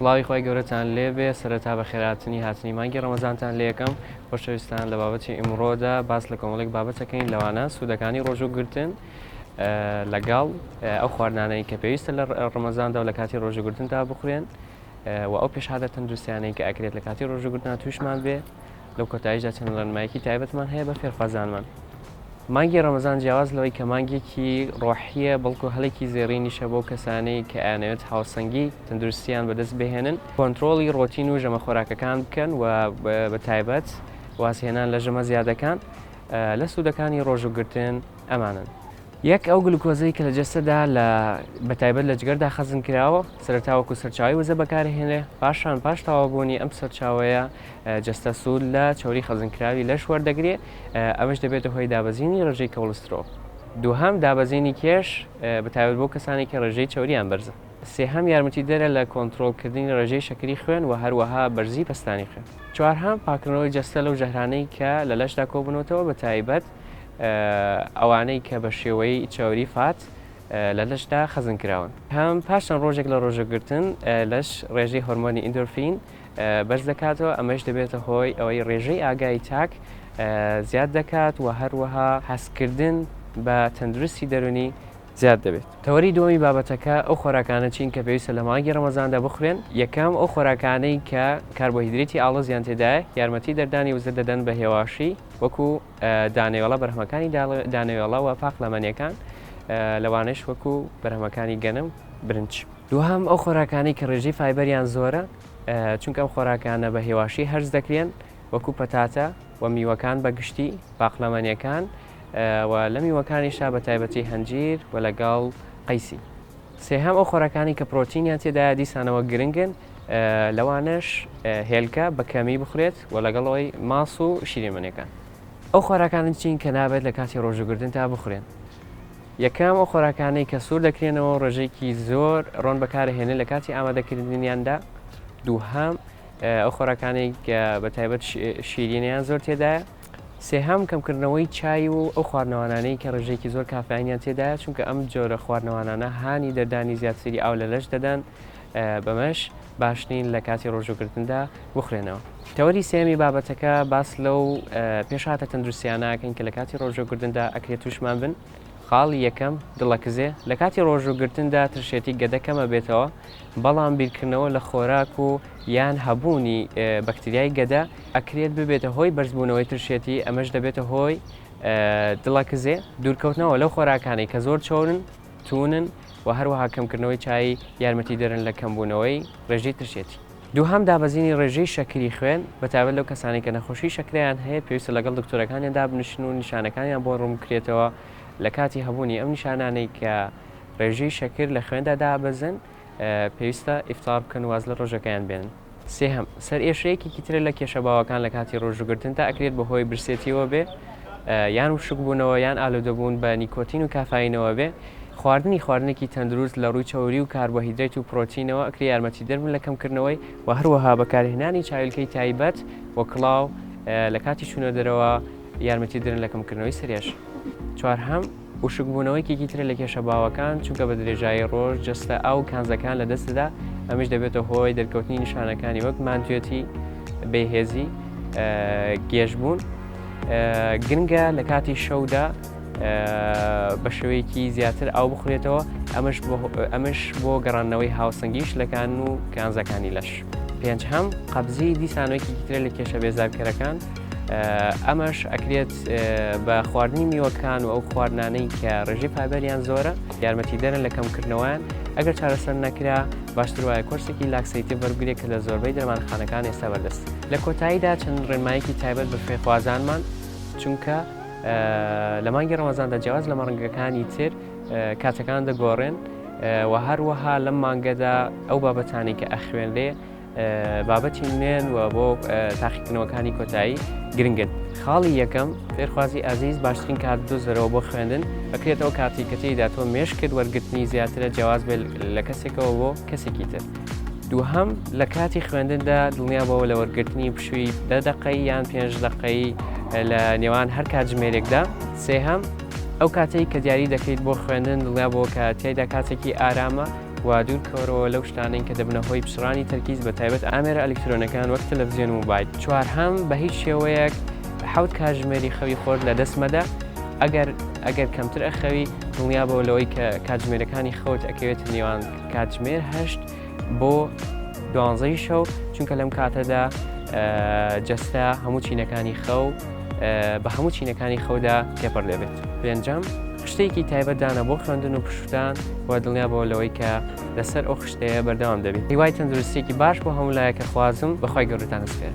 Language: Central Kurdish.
سڵاوی خوای گەورەتان لێبێ سەرەتا بەخێرهاتنی هاتنی مانگی ڕەمەزانتان لێکەم خۆشەویستان لە بابەتی ئیمڕۆدا باس لە کۆمەڵێک بابەتەکەین لەوانە سوودەکانی ڕۆژوو گرتن لەگەڵ ئەو خواردانەی کە پێویستە لە ڕەمەزاندا و لە کاتی ڕۆژوگرتندا بخورێن و ئەو پێشهادە تەندروستیانەی کە ئەکرێت لە کاتی ڕۆژوگرتنا تووشمان بێ لەو کۆتایشدا چەند ڕێنمایەکی تایبەتمان هەیە بە فێرخوازانمان مانگی ڕەمەزان جیاواز لەوەی کە مانگێکی ڕۆحیە بەڵکو هەلێکی زێڕینیشە بۆ کەسانەی کە ئەیانەوێت هاوسەنگی تەندروستیان بەدەست بهێنن کۆنتترۆڵی ڕۆتین و ژەمە خۆراکەکان بکەن و بە تایبەت وازهێنان لە ژەمە زیادەکان لە سوودەکانی ڕۆژوگرتن ئەمانن. یەک ئەو گلوکۆزەی کە لە جەستەدا لە بەتایبەت لە جگەردا خەزن کراوە سەرتاوەکو سەرچاوی وزە بەکارهێنێ پاشان پاش تاوابوونی ئەم سەرچاوەیە جەستە سوود لە چەوری خەزنکراوی لەش وەردەگرێت، ئەمەش دەبێتە هۆی دابەزینی ڕێژەی کۆڵسترۆڵ. دووهەم، دابەزینی کێش، بە تایبەت بۆ کەسانی کە ڕێژەی چەورییان بەرزە. سێهەم، یارمەتیدەرە لە کۆنترۆڵکردنی ڕێژەی شەکری خوێن و هەروەها بەرزی پەستانی خوێن. چوارهەم، پاککردنەوەی جەستە لەو ژەهرانەی کە لە لەشدا کۆبوونەتەوە، بە تایبەت ئەوانەی کە بە شێوەی چەوری، فات، لە لەشدا خەزنکراون. پێنجهەم، پاش چەند ڕۆژێک لە ڕۆژەگرتن، لەش ڕێژەی هۆرمۆنی ئیندۆرفین بەرز دەکاتەوە، ئەمەیش دەبێتە هۆی ئەوەی ڕێژەی ئاگایی تاک زیاد دەکات و هەروەها هەستکردن بە تەندروستی دەروونی زیاد دەبێت. تەوەری دووەمی بابەتەکە ئەو خۆراکانە چین کە پێویستە لە مانگی ڕەمەزاندا بخورێن؟ یەکەم، ئەو خۆراکانەی کە کاربۆهیدریتی ئاڵۆزیان تێدایە، یارمەتی دەردانی وزە دەدەن بە هێواشی، وەکو دانەوێڵە، بەرهەمەکانی دانەوێڵە و پاقلەمەنییەکان، لەوانەیش وەکو بەرهەمەکانی گەنم، برنج. دووهەم، ئەو خۆراکانەی کە ڕێژەی فایبەریان زۆرە، چونکە ئەم خۆراکانە بە هێواشی هەرس دەکرێن، وەکوو پەتاتە و میوەکان بە گشتی، پاقلەمەنێکان و لە میوەکانیشا بە تایبەتی هەنجیر و لەگەڵ قەیسی. سێهەم، ئەو خۆراکانەی کە پرۆتینیان تێدایە دیسانەوە گرنگن، لەوانەش هێلکە بە کەمی بخورێت و لەگەڵ ئەوەی ماس و شیرینمەنێکان. ئەو خۆراکانە چین کە نابێت لە کاتی ڕۆژووگرتندا بخورێن؟ یەکەم، ئەو خۆراکانەی کە سوور دەکرێنەوە و ڕێژەیەکی زۆر ڕۆن بەکارئەهێنرێن لە کاتی ئامادەکردنیاندا. دووهەم، ئەو خۆراکانەی کە بە تایبەت شیرینیان زۆر تێدایە. سێهەم، کەمکردنەوەی چای و ئەو خواردنەوانانەی کە ڕێژەیەکی زۆر کافایینیان تێدایە، چونکە ئەم جۆرە خواردنەوانانە هانی دەردانی زیاتری ئاو لە لەش دەدەن، بەمەش باش نین لە کاتی ڕۆژووگرتندا بخورێنەوە. تەوەری سێیەمی بابەتەکە باس لەو پێشهاتە تەندروستییانە ئەکەین کە لە کاتی ڕۆژووگرتندا ئەکرێ تووشمان بن. خاڵی یەکەم، دڵەکزێ، لە کاتی ڕۆژووگرتندا ترشێتی گەدە کەم ئەبێتەوە، بەڵام بیرکردنەوە لە خۆراک و یان هەبوونی بەکتریای گەدە ئەکرێت ببێتە هۆی بەرزبوونەوەی ترشێتی، ئەمەش دەبێتە هۆی دڵەکزێ. دوورکەوتنەوە لەو خۆراکانەی کە زۆر چەورن. توونن و هەروەها کەمکردنەوەی چایی یارمەتیدەرن لە کەمبوونەوەی ڕێژەی ترشێتی. دووهەم، دابەزینی ڕێژەی شەکری خوێن، بەتایبەت لەو کەسانەی کە نەخۆشی شەکرەیان هەیە، پێویستە لەگەڵ دکتۆرەکانیان دابنیشن و نیشانەکانیان بۆ ڕوونبکرێتەوە، لەکاتی هەبوونی ئەم نیشانانەی کە ڕێژەی شەکر لە خوێندا دابەزن، پێویستە ئیفطار بکەن و واز لە ڕۆژەکەیان بێنن. سێهەم، سەرئێشە یەکێکی ترە لە کێشە باوەکان لە کاتی ڕۆژووگرتندا، ئەکرێت بە هۆی برسێتیەوە بێ، یان وشکبوونەوە، یان ئالوودەبوون بە نیکۆتین و کافایینەوە بێ. خواردنی خواردنێکی تەندروست لە ڕووی چەوری و کاربۆهیدرەیت و پرۆتینەوە، ئەکرێ یارمەتیدەر بن لە کەمکردنەوەی، و هەروەها بەکارهێنانی چاویلکەی تایبەت و کڵاو لە کاتی چوونە دەرەوە یارمەتیدەرن لە کەمکردنەوەی سەرئێشە. چوارهەم. وشکبوونەوە یەکێکی ترە لە کێشە باوەکان، چونکە بە درێژایی ڕۆژ جەستە ئاو و کانزاکان لە دەست دەدا، ئەمەش دەبێتە هۆی دەرکەوتنی نیشانەکانی وەک ماندوێتی، بێهێزی، گێژبوون. گرنگە لە کاتی شەودا بە شێوەیەکی زیاتر ئاو بخورێتەوە، ئەمەش بۆ گەڕاندنەوەی هاوسەنگیی شلەکان و کانزاکانی لەش. پێنجهەم، قەبزی دیسانەوە یەکێکی ترە لە کێشە بێزارکەرەکان، ئەمەش ئەکرێت بە خواردنی میوەکان و ئەو خواردنانەی کە ڕێژی پابەریان زۆرە یارمەتی دەرن لە کەمکردنەوەیان ئەگەر چارەسەر نەکرا باشتر وایە کۆرسێکی لاکسەیتی بەرگرێک کە لە زۆربەی دەرمانخانەکان ئێستا بەردەست لە کۆتاییدا چەند ڕێنمایەکی تایبەت بە فێخوازانمان چونکە لە مانگی ڕەمەزاندا جیاواز لە مەڕنگەکانی تر کاتەکان دەگۆڕێن و هەروەها لەم مانگەدا ئەو بابەتانی کە ئەخوێنرێ بابەتی نوێن و بۆ تاقیکردنەوەکانی کۆتایی گرنگن خاڵی یەکەم فێرخوازی ئازیز باشترین کات دۆزەرەوە بۆ خوێندن ئەکرێت ئەو کاتی کە تێیدا تۆ مێشکت وەرگرتنی زیاترە جیاواز بێت لە کەسێکەوە بۆ کەسێکی تر دووهەم لە کاتی خوێندندا دڵنیا بەوە لە وەرگرتنی پشووی دە دەقەی یان پێنج دەقەی لە نێوان هەر کاتژمێرێکدا سێهەم ئەو کاتێک کە دیاری دەکەیت بۆ خوێندن دڵنیا بۆ کە تێدا کاتێکی ئارامە و دوور کەوەرەوە لەو شتانەی کە دەبنە هۆی پچڕانی تەرکیز بە تایبەت ئامێرە ئەلیکترۆنەکان وەک تەلەفزیۆن و مۆبایل. چوارهەم، بە هیچ شێوەیەک حەوت کاتژمێری خەوی خۆت لە دەست مەدە، ئەگەر ئەگەر کەمتر ئەخەوی دڵنیابەوە لەوەی کە کاتژمێرەکانی خەوت ئەکەوێتە نێوان کاتژمێر هەشت بۆ دوانزەی شەو چونکە لەم کاتەدا جەستە هەموو چینەکانی خەو بە هەموو چینەکانی خەودا تێپەر دەبێت پێنجام خشتێکی تایبەتدانە بۆ خوێندن و پشتدان و دڵنیا بۆ لەوەی کە لەسەر ئەو خشتەیە بەردەوام دەبیت هیوای تەندروستێکی باش بۆ هەمولایەکە خوازم بەخوای گەورتان سپێن.